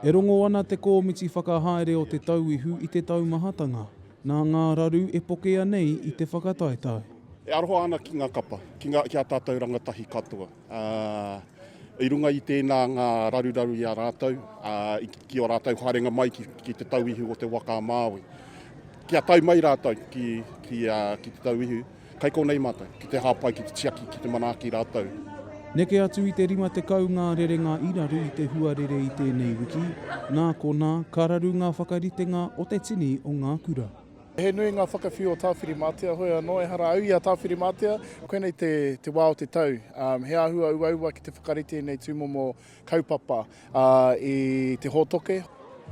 E rongo ana te kōmiti whakahaere o Te Tauihu i te taumahatanga nā ngā raru e pokea nei i te whakataetae. E aroha ana ki ngā kapa, ki ngā, ki ā tātou rangatahi katoa. I runga i tēnā ngā raruraru i a rātou, ki ō rātou haerenga mai ki, ki Te Tauihu o Te Waka-a-Māui. Kia tae mai rātou ki, ki, ki Te Tauihu. Kai konei mātou, ki te hāpai, ki te tiaki, ki te manaaki rātou. Neke atu i te 50 ngā rerenga i raru i te huarere i tēnei wiki, nā konā, ka raru ngā whakaritenga o te tini o ngā kura. He nui ngā whakawhiu o Tāwhirimātea, hoi anō, ehara au i a Tāwhirimātea. Koinei te wā o te tau, he āhua uaua ki te whakarite i nei tūmomo Kaupapa, ā, i te hōtoke.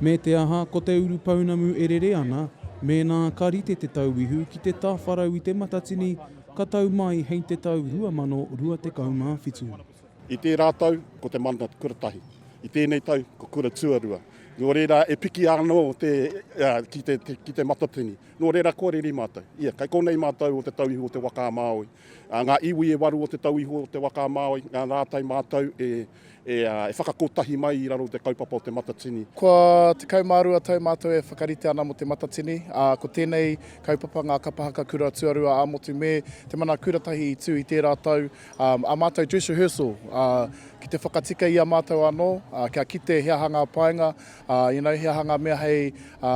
Me te aha, ko te urupounamu e rere ana, mēnā ka rite te tauihu ki te tāwharau i Te Matatini ka tau mai hei te tau 2027. I tērā tau, ko te mana kura tahi. I tēnei tau, ko kura tuarua. Nō reira, e piki anō te, ā, ki te, ki Te Matatini. Nō reira, kua reri mātou. Ia, kei konei mātou o te tauihu o te waka a Māui. Ngā iwi e waru o te tau iho o te waka a Māui, ngā rātai mātau e whakakotahi mai i raro i te kaupapa o Te Matatini. Kua tekau mā rua tau mātou e whakarite ana mō Te Matatini, ā, ko tēnei kaupapa Ngā Kapa Haka Kura Tuarua ā-Motu me Te Mana Kuratahi i tū i tērā tau, ā mātou dress rehearsal, ā, ki te whakatika i a mātou anō, ā, kia kite he aha ngā painga, ā, you know, he aha ngā mea hei, ā,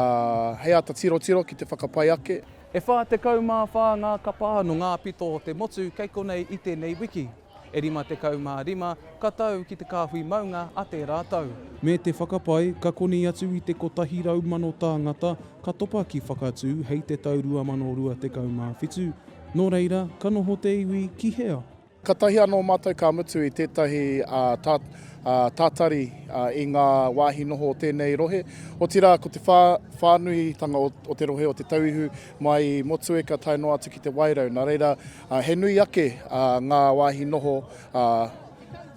hei āta tirotiro ki te whakapai ake. E whā tekau mā whā ngā kapa nō ngā pito o te motu kei konei i tēnei wiki. E rima tekau mā rima ka tau ki te kāhui maunga a tērā tau. Me te whakapae, ka koni atu i te 100,000 tāngata ka topa ki Whakatū hei te tau 2027. Nō reira, ka noho te iwi ki hea? Katahi anō mātou ka mutu i tētahi tātari i ngā wāhi noho o tēnei rohe, otirā ko te whānuitanga o te rohe o Te Tauihu mai i Motueka tae noa atu ki Te Wairau, nā reira he nui ake ngā wāhi noho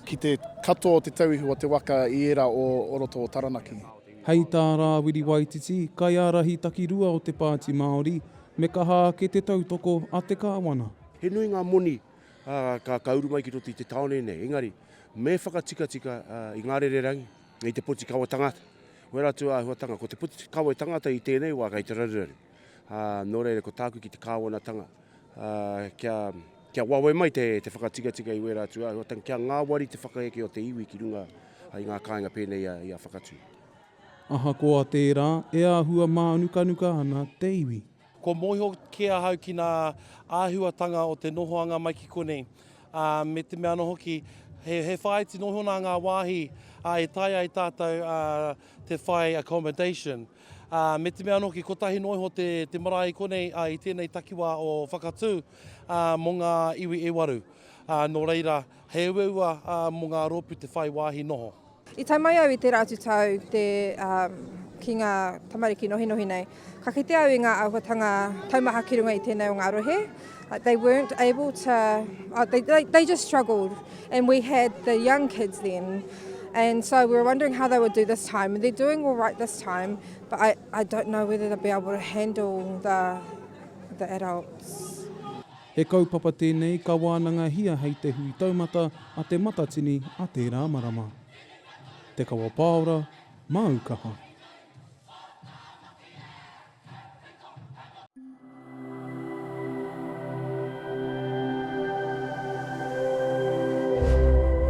ki te katoa o Te Tauihu o te waka i ērā o roto o Taranaki. Hei tā Rāwiri Waititi, kaiārahi takirua o te Pāti Māori, me kaha ake te tautoko a te Kāwana. He nui ngā moni ka uru mai ki roto i te tāone nei, engari me whakatikatika i ngā rererangi, i te poti kawe tangata. Wera atu a āhuatanga, ko te poti kawe tangata i tēnei wā kei te raruraru. Nō reira, ko tāku ki te kāwanatanga, kia wawe mai te whakatikatika i wera atu āhuatanga, kia ngāwari te whakaeke o te iwi ki runga i ngā kāinga pēnei i a Whakatū. Ahakoa tērā, e āhua mānukanuka ana te iwi. Kua mōhio kē ahau ki ngā āhuatanga o te nohoanga mai ki konei, ā, me te mea anō hoki, he, he whāiti noho nā ngā wāhi ā, e taea ai tātou ā, te whai accommodation. Ā, me te mea anō hoki, kotahi noa iho te, te marae i konei ā, i tēnei takiwā o Whakatū ā, mō ngā iwi e waru. Ā, nō reira, he uaua ā, mō ngā rōpū te whai wāhi noho. I tae mai au i tērā atu tau te, um, ki ngā tamariki nohinohi nei, ka kite au i ngā āhuatanga taumaha ki runga i tēnei o ngā rohe. Like they weren't able to, oh, they, they, they just struggled. And we had the young kids then. And so we were wondering how they would do this time. And they're doing all right this time, but I, I don't know whether they'll be able to handle the, the adults. He kaupapa tēnei ka wānangahia hei te hui taumata a Te Matatini a tērā marama. Te Kawa Pāora, māu kaha.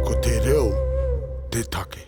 Ko te reo te take.